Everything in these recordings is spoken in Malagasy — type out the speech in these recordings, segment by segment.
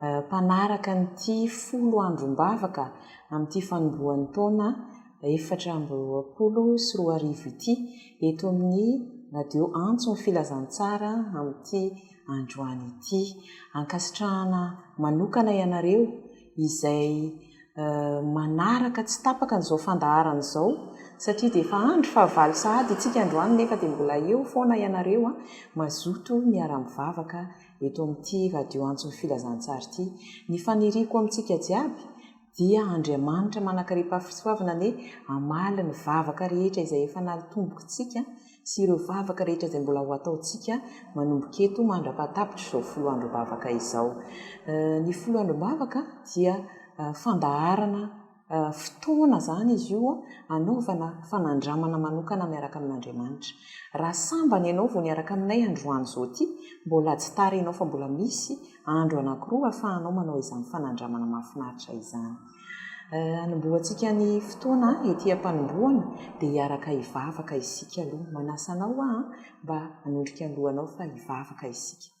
mpanaraka an'ity folo androm-bavaka amin'ity fanombohan'ny taona efatra amby roapolo sy roa arivo ity eto amin'ny Radio Antso ny Filazantsara amin'ity androany ity. Ankasitrahana manokana ianareo izay manaraka tsy tapaka an'izao fandaharana izao satria dia efa andro fahavalo sahady itsika androany nefa dia mbola eo foana ianareo mazoto miara-mivavaka eto amin'ity Radio Antso Filazantsara ity. Ny faniriako amintsika jiaby dia Andriamanitra manakaripahafisoavana anie hamaly ny vavaka rehetra izay efa naltombokintsika sy ireo vavaka rehetra izay mbola ho ataontsika manomboka eto mandra-pahatapitra izao folo androm-bavaka izao. Ny folo androm-bavaka dia fandaharana fotoana izany izy io hanaovana fanandramana manokana miaraka amin'Andriamanitra. Raha sambany ianao vao niaraka aminay androany izao ity, mbola ajtara ianao fa mbola misy andro anankiroa ahafahanao manao izany fanandramana mahafinaritra izany. Hanombohantsika ny fotoana ety am-panombohana dia hiaraka hivavaka isika aloha. Manasa anao aho mba hanondrika ny lohanao fa hivavaka isika.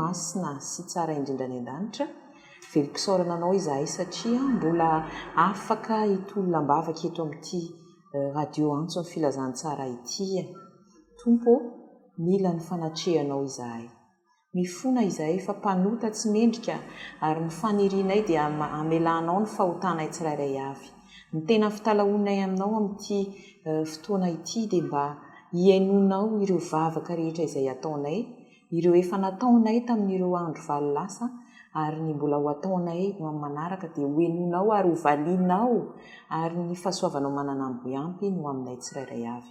Masina sy tsara indrindra any an-danitra, velom-pisaorana anao izahay satria mbola afaka hitolona am-bavaka eto amin'ity radio antso ny filazantsara ity e Tompo ô. Mila ny fanatrehanao izahay. Mifona izahay fa mpanota tsy mendrika ary ny fanirianay dia hamelanao ny fahotanay tsirairay avy. Ny tena fitalahoanay aminao amin'ity fotoana ity dia mba hihainoanao ireo vavaka rehetra izay ataonay, ireo efa nataonay tamin'ireo andro valo lasa ary ny mbola ho ataonay ho amin'ny manaraka dia hohenoinao ary hovalianao ary ny fahasoavanao mananambo ampy ny ho aminay tsirairay avy.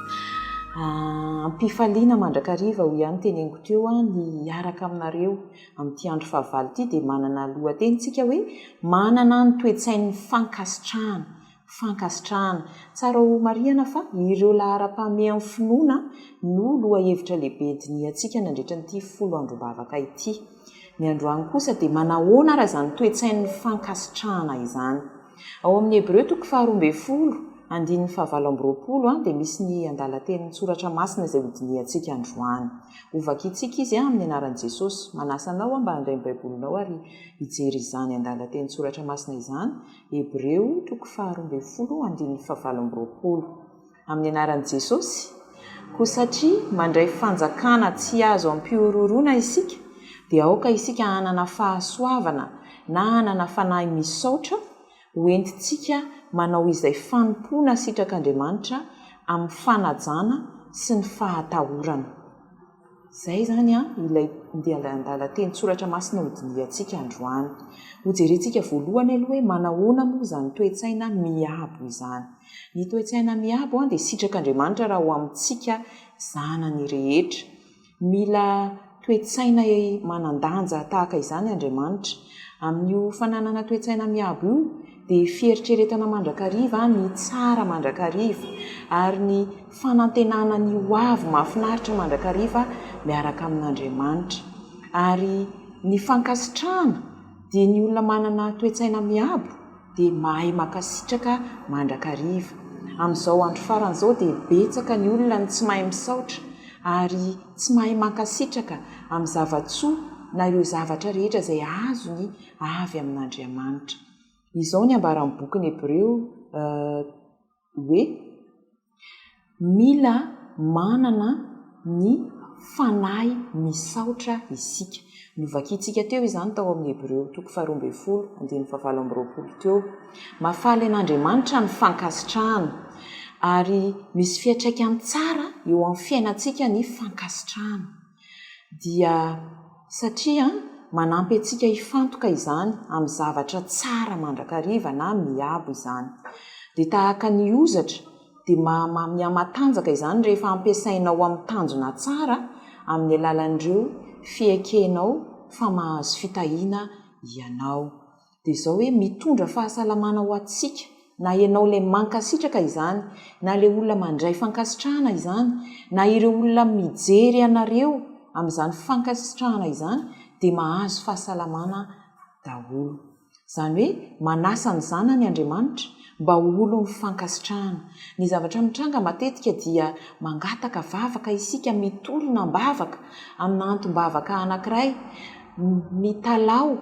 Am-pifaliana mandrakariva, hoy ihany ny teneniko teo, aho ny hiaraka aminareo amin'ity andro fahavalo ity, dia manana lohateny isika hoe, Manana ny toe-tsain'ny fankasitrahana. Fankasitrahana. Tsara ho marihana fa ireo laharam-pahameha amin'ny finoana no lohahevitra lehibe dinihantsika nandritra an'ity folo androm-bavaka ity. Ny androany kosa dia manahoana ary izany toe-tsain'ny fankasitrahana izany? Ao amin'ny Hebreo toko faharoa ambin'ny folo, andininy fahavalo amby roapolo, dia misy ny andalan-tenin'ny Soratra Masina izay hodinihantsika androany. Hovakintsika izy amin'ny anaran'i Jesosy. Manasa anao aho mba handray ny Baibolinao ary hijery izany andalan-tenin-tSoratra Masina izany, Hebreo toko faharoa ambin'ny folo, andininy fahavalo amby roapolo. amin'ny anaran'i Jesosy, koa satria mandray fanjakana tsy azo ampihorohoroana isika, dia aoka isika hanana fahasoavana na hanana fanahy misaotra ho entintsika manao izay fanompoana sitrak'Andriamanitra amin'ny fanajana sy ny fahatahorana. Izay izany ilay andian-dalan-tenin-tsoratra masina hodinihantsika androany. Hojerentsika voalohany aloha hoe manahoana moa izany toe-tsaina miabo izany. Ny toe-tsaina miabo dia sitrak'Andriamanitra raha ho amintsika zanany rehetra. Mila toe-tsaina manan-danja tahaka izany Andriamanitra. Amin'io fananana toe-tsaina miabo io dia fieritreretana mandrakariva ny tsara mandrakariva ary ny fanantenana ny ho avy mahafinaritra mandrakariva miaraka amin'Andriamanitra. Ary ny fankasitrahana dia ny olona manana toe-tsaina miabo. dia mahay makasitraka mandrakariva. Amin'izao andro farany izao dia betsaka ny olona no tsy mahay misaotra ary tsy mahay mankasitraka amin'ny zava-tsoa na ireo zavatra rehetra izay azony avy amin'Andriamanitra. Izao ny ambaran'ny bokin'ny Hebreo, Ë. hoe mila manana ny fanahy misaotra isika. Novakintsika teo izany tao amin'ny Hebreo toko faharoa ambin'ny folo, andininy fahavalo amby roapolo teo. Mahafaly an'Andriamanitra ny fankasitrahana, ary misy fiantraikany tsara eo amin'ny fiainantsika ny fankasitrahana. dia satria manampy antsika hifantoka izany amin'ny zavatra tsara mandrakariva na miabo izany. Dia tahaka ny hozatra, dia maha mihamatanjaka izany rehefa ampiasainao amin'ny tanjona tsara amin'ny alalan'ireo fiekenao fa mahazo fitahiana ianao. dia izao hoe mitondra fahasalamana ho antsika na ianao ilay mankasitraka izany na ilay olona mandray fankasitrahana izany na ireo olona mijery anareo amin'izany fankasitrahana izany dia mahazo fahasalamana daholo izany hoe manasa ny zanany Andriamanitra mba ho olon'ny fankasitrahana ny zavatra mitranga matetika dia mangataka vavaka isika mitorina am-bavaka amina antom-bavaka anankiray mitalaho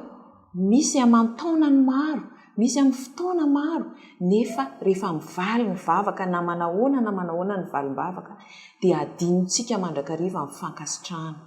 Misy aman-taonany maro, misy amin'ny fotoana maro, nefa rehefa mivaly ny vavaka na manahoana na manahoana ny valim-bavaka dia adinontsika mandrakariva ny fankasitrahana.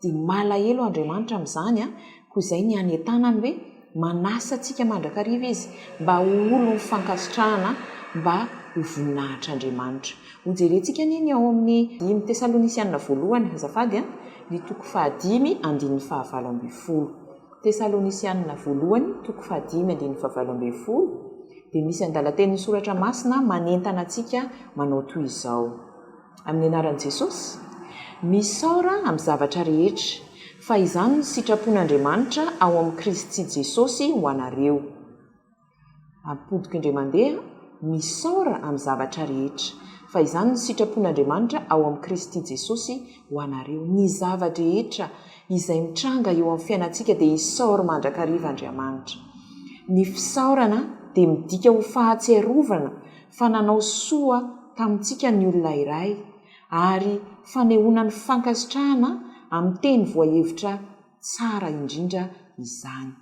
Dia malahelo Andriamanitra amin'izany an! Koa izay ny any an-tanany hoe manasa antsika mandrakariva Izy mba ho olon'ny fankasitrahana, mba ho voninahitr'Andriamanitra. Hojerentsika anie ny ao amin'ny dimy Tesalonisianina voalohany azafady an, ny toko fahadimy andininy fahavalo ambin'ny folo. Tesalonisianina Voalohany, toko fahadimy andininy fahavalo ambin'ny folo, dia misy andalan-tenin'ny Soratra Masina manentana antsika manao toy izao, Amin'ny anaran'i Jesosy, misaora amin'ny zavatra rehetra, fa izany no sitrapon'Andriamanitra ao amin'i Kristy Jesosy ho anareo. Ampontiko indray mandeha, misaora amin'ny zavatra rehetra, fa izany no sitrapon'Andriamanitra ao amin'i Kristy Jesosy ho anareo. Ny zava-drehetra izay mitranga eo amin'ny fiainantsika dia isaory mandrakariva Andriamanitra. Ny fisaorana dia midika ho fahatsiarovana fa nanao soa tamintsika ny olona iray, ary fanehoana ny fankasitrahana amin'ny teny voahevitra tsara indrindra izany.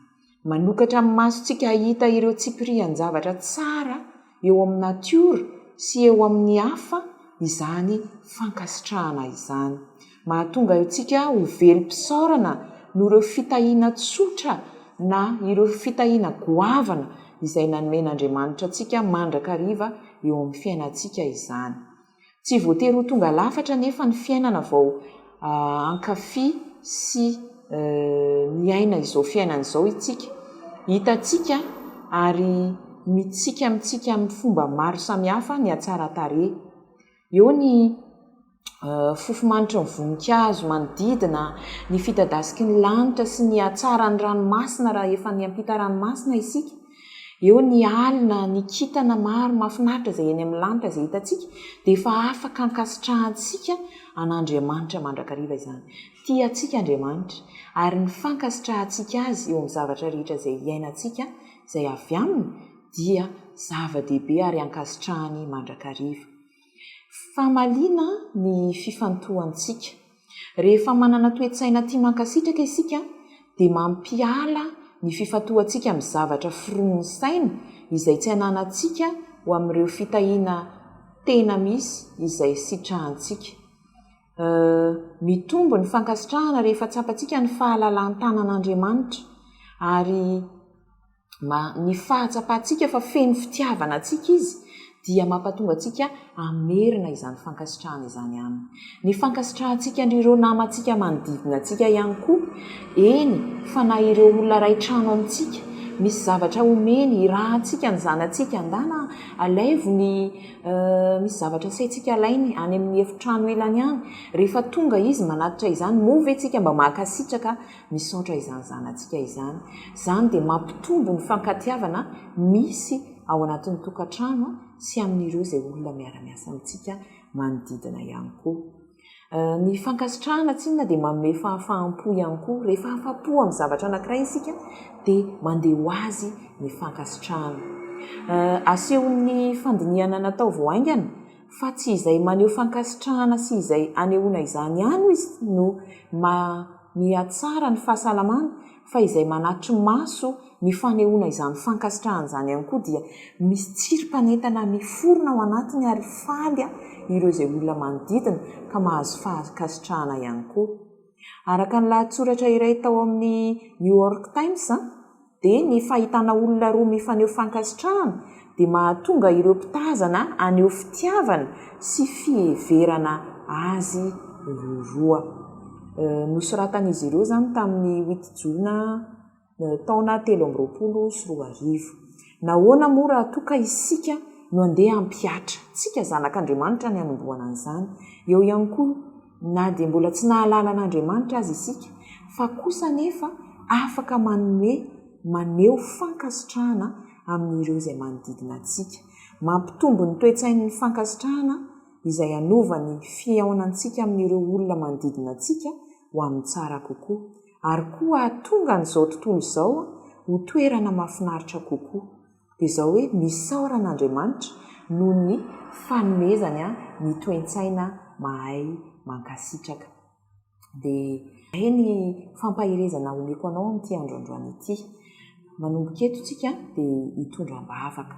Manokatra ny masontsika hahita ireo tsipirian-javatra tsara eo amin'ny natiora sy eo amin'ny hafa izany fankasitrahana izany. Mahatonga antsika ho velom-pisaorana noho ireo fitahiana tsotra na ireo fitahiana goavana izay nanomen'Andriamanitra antsika mandrakariva eo amin'ny fiainantsika izany. Tsy voatery ho tonga lafatra anefa ny fiainana vao hankafy sy miaina izao fiainana izao isika. Hitantsika ary mitsiky amintsika amin'ny fomba maro samihafa ny hatsaran-tarehy. Eo ny fofomanitry ny voninkazo manodidina, ny fidadasiky ny lanitra sy ny hatsaran'ny ranomasina raha efa niampita ranomasina isika. Eo ny alina, ny kintana maro mahafinaritra izay eny amin'ny lanitra izay hitantsika, dia efa afaka ankasitrahantsika an'Andriamanitra mandrakariva izany. Tia antsika Andriamanitra, ary ny fankasitrahantsika Azy eo amin'ny zavatra rehetra izay iainantsika, izay avy Aminy, dia zava-dehibe ary ankasitrahany mandrakariva. Famaliana ny fifantohantsika. Rehefa manana toe-tsaina tia mankasitraka isika, dia mampiala ny fifantohantsika amin'ny zavatra foronin'ny saina izay tsy ananantsika ho amin'ireo fitahiana tena misy izay sitrahantsika. Mitombo ny fankasitrahana rehefa tsapantsika ny fahalalan-tanan'Andriamanitra, ary. Mba ny fahatsapantsika fa feno fitiavana antsika Izy dia mampatonga antsika hamerina izany fankasitrahana izany Aminy. Ny fankasitrahantsika an'ireo namantsika manodidina antsika ihany koa, eny fa na ireo olona iray trano amintsika, misy zavatra omeny hirahantsika ny zanatsika, Andaha alaivo ny misy zavatra asaintsika alainy any amin'ny efitrano ilany any, rehefa tonga izy manatitra izany, moa ve tsika mba mahakasitraka Misaotra izany zanatsika izany. Izany dia mampitombo ny fankatiavana misy ao anatin'ny tokantrano sy amin'ireo izay olona miara-miasa amintsika manodidina ihany koa. Ny fankasitrahana tsinona dia manome fahafaham-po ihany koa. Rehefa afa-po amin'ny zavatra anankiray isika dia mandeha ho azy ny fankasitrahana. Asehon'ny fandinihana natao vao haingana fa tsy izay maneho fankasitrahana sy izay anehoana izany ihany hoy izy no maha. mihatsara ny fahasalamany fa izay manatry maso ny fanehoana izany fankasitrahana izany ihany koa dia misy tsirim-panentana miforona ao anatiny ary faly ireo izay olona manodidina ka mahazo fankasitrahana ihany koa. Araka ny lahatsoratra iray tao amin'ny New York Times, dia ny fahitana olona roa mifaneho fankasitrahana dia mahatonga ireo mpitazana haneho fitiavana sy fiheverana azy ireo roa. Nosoratan'izy ireo izany tamin'ny wit jona taona telo amby roapolo sy roa arivo. Nahoana moa raha toa ka isika no handeha hampihatra? Tsika zanak'Andriamanitra ny hanombohana an'izany. Eo ihany koa Na dia mbola tsy nahalala an'Andriamanitra aza isika, fa kosa anefa afaka manome maneho fankasitrahana amin'ireo izay manodidina antsika. Mampitombo ny toe-tsain'ny fankasitrahana izay hanova ny fihaonantsika amin'ireo olona manodidina antsika ho amin'ny tsara kokoa, ary koa hahatonga an'izao tontolo izao ho toerana mahafinaritra kokoa. dia izao hoe misaora an'Andriamanitra noho ny fanomezany ahy ny toentsaina mahay mankasitraka. Dia izay ny fampaherezana omeko anao amin'ity andro androany ity. Manomboka eto tsika dia hitondra am-bavaka,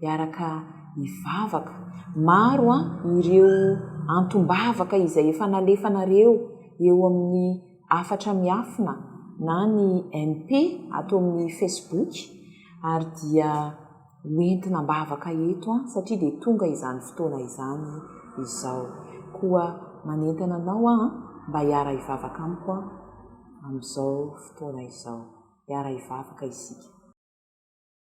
hiaraka hivavaka. Maro ireo antom-bavaka izay efa nalefanareo eo amin'ny. hafatra miafina na ny MP ato amin'ny Facebook ary dia ho entina am-bavaka eto an satria dia tonga izany fotoana izany izao. Koa manentana anao aho an, mba hiara hivavaka amiko an amin'izao fotoana izao. Hiara hivavaka isika.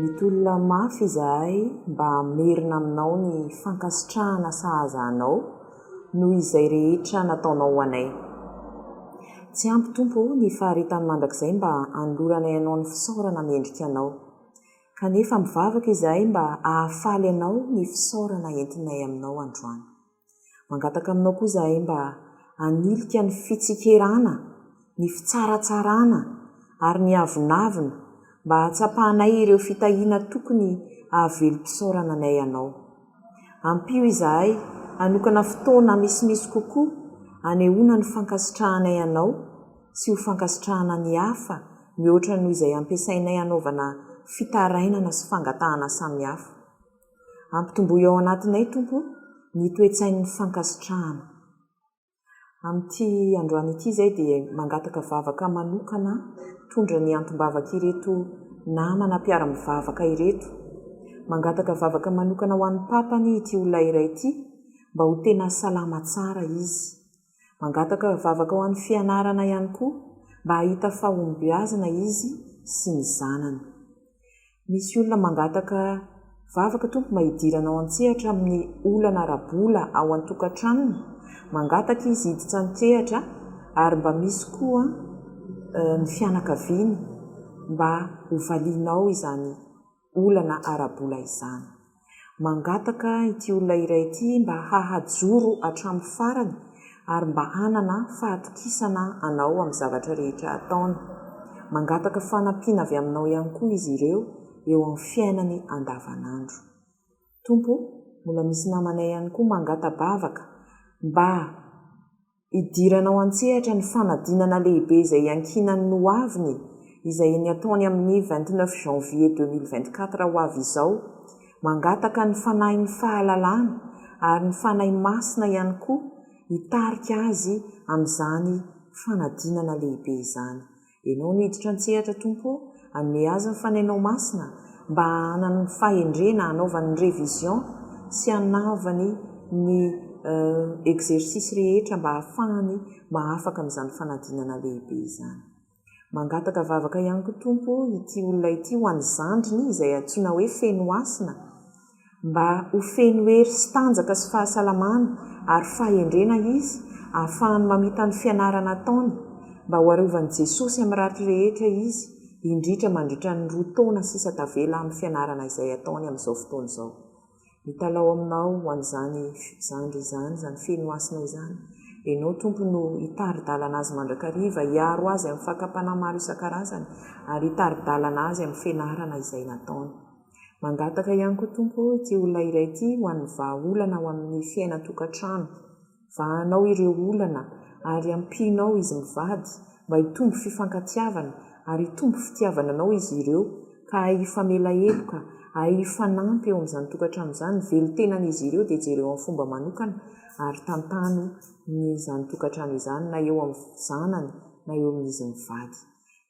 Mitolona mafy izahay mba hamerina aminao ny fankasitrahana sahaza anao noho izay rehetra nataonao ho anay. Tsy ampy Tompo ô ny faharetany mandrakizay mba hanoloranay anao ny fisaorana mendrika anao. Kanefa mivavaka izahay mba hahafaly anao ny fisaorana entinay aminao androany. Mangataka aminao koa izahay mba hanilika ny fitsikerana, ny fitsaratsarana ary ny avonavona mba hahatsapanay ireo fitahiana tokony hahavelom-pisaorana anay anao. Ampio izahay hanokana fotoana misimisy kokoa hanehoana ny fankasitrahanay anao sy ho fankasitrahana ny hafa mihoatra noho izay ampiasainay hanaovana fitarainana sy fangatahana samihafa. Ampitomboy ao anatinay, Tompo, ny toe-tsain'ny fankasitrahana. Amin'ity androany ity izay dia mangataka vavaka manokana hitondra ny antom-bavak'ireto namana mpiara-mivavaka ireto. Mangataka vavaka manokana ho an'ny Papany ity olona iray ity mba ho tena salama tsara izy. Mangataka vavaka ho an'ny fianarana ihany koa mba hahita fahombiazana izy sy ny zanany. Misy olona mangataka vavaka Tompo mba hidirana ao an-tsehatra amin'ny olana ara-bola ao an-tokantranony, mangataka izy hiditsan-kehatra ary mba misy koa ny fianakaviany mba hovalianao izany. olana ara-bola izany. Mangataka ity olona iray ity mba hahajoro hatramin'ny farany ary mba hanana fahatokisana anao amin'ny zavatra rehetra ataony. Mangataka fanampiana avy aminao ihany koa izy ireo eo amin'ny fiainany andavanandro. Tompo o, mbola misy namanay ihany koa mangata-bavaka mba. hidiranao an-tsehatra ny fanadinana lehibe izay iankinan'ny noaviny izay eny ataony amin'ny vingt neuf janvier deux mille vingt quatre ho avy izao, mangataka ny Fanahin'ny fahalalana ary ny Fanahy Masina ihany koa hitarika azy amin'izany fanadinana lehibe izany. Ianao no hiditra an-tsehatra Tompo o, hanome azy ny Fanainao Masina mba hahanany ny fahendrena hanaovany ny révision sy hanaovany ny exercice rehetra mba hahafahany mahafaka amin'izany fanadinana lehibe izany. Mangataka vavaka ihany koa Tompo ity olona ity ho an'ny zandriny izay antsoina hoe Fenohasina, mba ho feno hery sy tanjaka sy fahasalamana ary fahendrena izy ahafahany mamita ny fianarana ataony mba ho arovan'i Jesosy amin'ny ratsy rehetra izy indritra mandritra ny roa taona sisa tavela amin'ny fianarana izay ataony amin'izao fotoana izao. Mitalaho aminao ho an'izany zandry izany, izany feno hasina izany. Ianao Tompo no hitari-dalana azy mandrakariva, hiaro azy amin'ny fakam-panahy maro isan-karazany ary hitari-dalana azy amin'ny fianarana izay nataony. Mangataka ihany koa Tompo ô ity olona iray ity ho an'ny vahaolana ao amin'ny fiainan-tokantrano. Vahanao ireo olana ary ampianao izy mivady mba hitombo fifankatiavana ary hitombo fitiavana anao izy ireo ka hahay hifamela heloka, hahay hifanampy eo amin'izany tokantrano izany. Velon-tenan'izy ireo dia jereo amin'ny fomba manokana ary tantano ny izany tokantrano izany na eo amin'ny zanany na eo amin'izy mivady.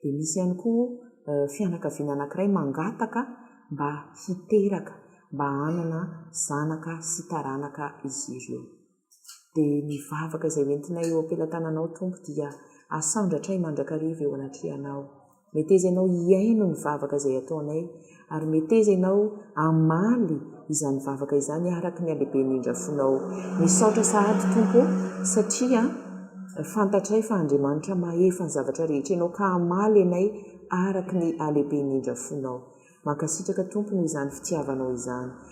Dia misy ihany koa fianakaviana anankiray mangataka mba hiteraka, mba hanana zanaka sy taranaka izy ireo. Dia ny vavaka izay hoentinay eo am-pelatananao, Tompo, dia asandratray mandrakariva eo anatrehanao. Meteza ianao hihaino ny vavaka izay ataonay. ary meteza ianao hamaly izany vavaka izany araka ny halehiben'ny indrafonao. Misaotra sahady Tompo ô, satria fantatray fa Andriamanitra mahefa ny zavatra rehetra ianao ka hamaly anay araka ny halehiben'ny indrafonao. Mankasitraka Tompo noho izany fitiavanao izany.